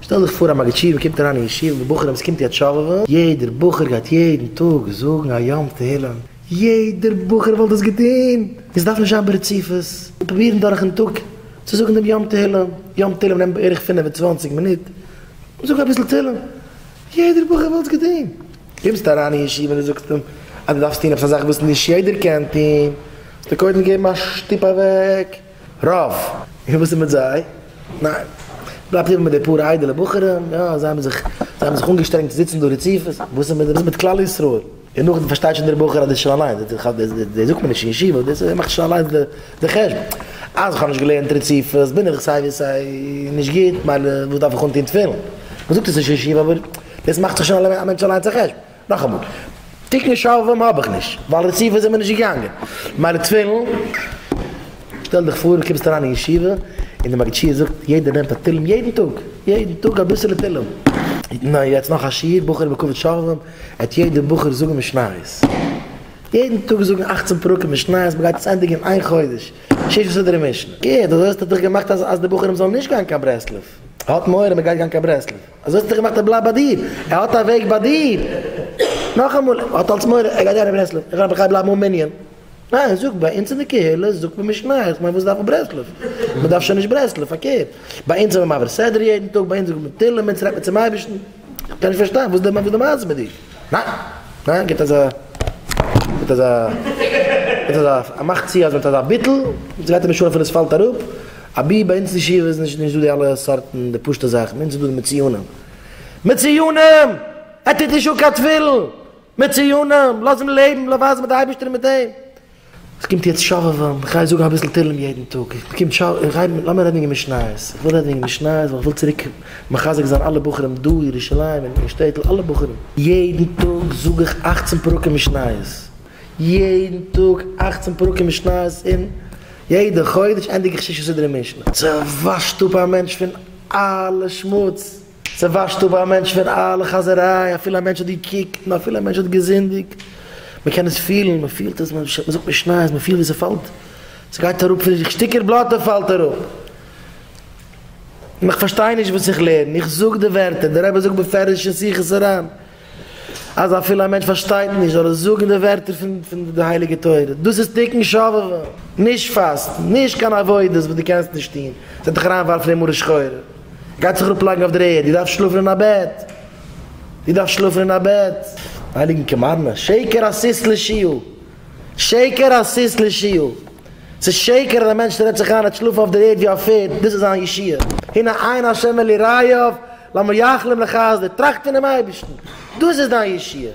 שטעל דיך פאר א מגיד שיעור קומט אריין אין ישיבה מיט בחורים עס קומט יו ט שובבות יעדער בחור גייט יעדן טאג זאגן א יום תהילים יעדער בחור וואלט דאס געטון עס דארף נישט זיין ברציפות און פרובירן דורכן טאג צו זאגן דעם יום תהילים יום תהילים נעמט בערך פֿינף און צוואַנציק מינוט זאג אביסל תהילים יעדער בחור וואלט עס געטון קומסטו אריין אין ישיבה און דו זאגסט אים אז דו דארפסט טון עפעס א זאך וואס נישט יעדער קען טון זאלסטו קודם געבן א שטופ אוועק. רב, און וואס איז מיט זיי? ניין, בלייבט איבער מיט די פאר איידעלע בחורים, יא, זיי האבן זיך, זיי האבן זיך אנגעשטרענגט צו זיצן דא רציפות, וואס איז מיט זיי? וואס איז מיט כלל ישראל? און נאכדעם פארשטייט שוין דער בחור אז דאס איז שוין אליינס, דאס זאגט מען נישט אין ישיבה, דאס מאכט שוין אליינס די חשבון, אז איך האב נישט געלערנט רציפות, בין איך סיי ווי סיי נישט גוט, מילא וואס דארף איך אנטון תפילין? מען זאגט עס נישט אין ישיבה, אבער דאס מאכט זיך שוין א מענטש אליינס א חשבון. נאכאמאל, תיקון שרוולים האב איך נישט, ווייל רציפות זעמיר נישט געגאנגען. מיינע תפילין, שטעל דיך פאר קומסט אריין אין ישיבה, און די מגיד שיעור זאגט יעדער נעמט א תהלים יעדן טאג, יעדן טאג אביסעלע תהלים. נו יעצט נאך א שיעור בחורים בכבוד שרוולים, העט יעדער בחור זאגן משניות. יעדן טאג זאגן אכצן פרקים משניות, מ'גייט עס ענדיגן אין איין חודש, שש סדרי משנה. גוט, אזוי האסטו דיך געמאכט אז די בחורים זאלן נישט גיין קיין ברסלב. האט מורא מ'גייט גיין קיין ברסלב. אזוי האט ער געמאכט ער בלייבט ביי דיר ער האט א וועג ביי דיר נאכאמאל ער האט אלס מורא ער גייט אריין אין ברסלב איך גיי בלייבן אן מנין ניין זאג ביי אונז אין די קהילה זאגט מען משניות איך מיין וואס דארף מען ברסלב מען דארף שוין נישט ברסלב פארקערט ביי אונז זעמער מעביר סדרה יעדן טאג ביי אונז זאגט מען תהלים אונז רעדט מען צום אייבערשטן איך קען נישט פארשטיין וואס די וואס די מעשה מיט דיר ניין ניין גיבט אזא גיבט אזא גיבט אזא א מאך צו אז מען האט אזא ביטול אונז גייט אין משולם פון עס פאלט אראפ. אבי ביי אונז אין ישיבה איז נישט דא די אלע סארטן די פשוטע זאכן, ביי אונז איז דא די מציונים, מציונים! ער טוט נישט אן קיין תפילין! מציונים! לאז אים לעבן, לאז ווייזן מיט די אייבערשטער און מיט אים. עס קומט יעצט שובבים, איך גיי זאגן אביסל תהלים יעדן טאג, עס קומט שוב, איך גיי, לאמיר רעדן וועגן משניות, איך וויל רעדן וועגן משניות ווייל איך וויל צוריק מחזק זיין אלע בחורים דא אין ירושלים און אין שטעטל אלע בחורים, יעדן טאג זאג איך אכצן פרקים משניות, יעדן טאג אכצן פרקים משניות און יעדע חודש ענדיג איך שישה סדרי משנה. ס'וואשט אפ א מענטש פון אלע שמוץ, ס'וואשט אפ א מענטש פון אלע חאזעריי, אפילו א מענטש האט געקוקט און אפילו א מענטש האט געזינדיגט, מ'קען עס פילן, מ'פילט עס, מ'זאגט משניות, מ'פילט ווי ס'פאלט, ס'גייט אראפ פון זיך, שטיקער בלאטע פאלט אראפ, און איך פארשטיי נישט וואס איך לערן, איך זאג די ווערטער, דער רבי זאגט בפירוש אין שיחות הר ן, אז אפילו א מענטש פארשטייט נישט זאל ער זאגן די ווערטער פון די הייליגע תורה, דאס איז תיקון שובבה, נישט פאסטן, נישט קיין עבודות וואס דו קענסט נישט טון, עס וועט דיך אריין ווארפן אין מרה שחורה, דו גייסט זיך אראפ לייגן אויף דער ערד, דו דארפסט שלאפן אין א בעט, דו דארפסט שלאפן אין א בעט, הייליגן קאמארנא, שקר הסיס לשיעור, שקר הסיס לשיעור. צו שעקערן א מענטש רעדט זיך איין ער האט שלאפן אויף דער ערד ווי א פערד דאס איז זיין ישועה, הנה עין השם אל יראיו למה יחלום לחסדו טראכט פונעם אייבערשטן דאס איז דיין ישועה.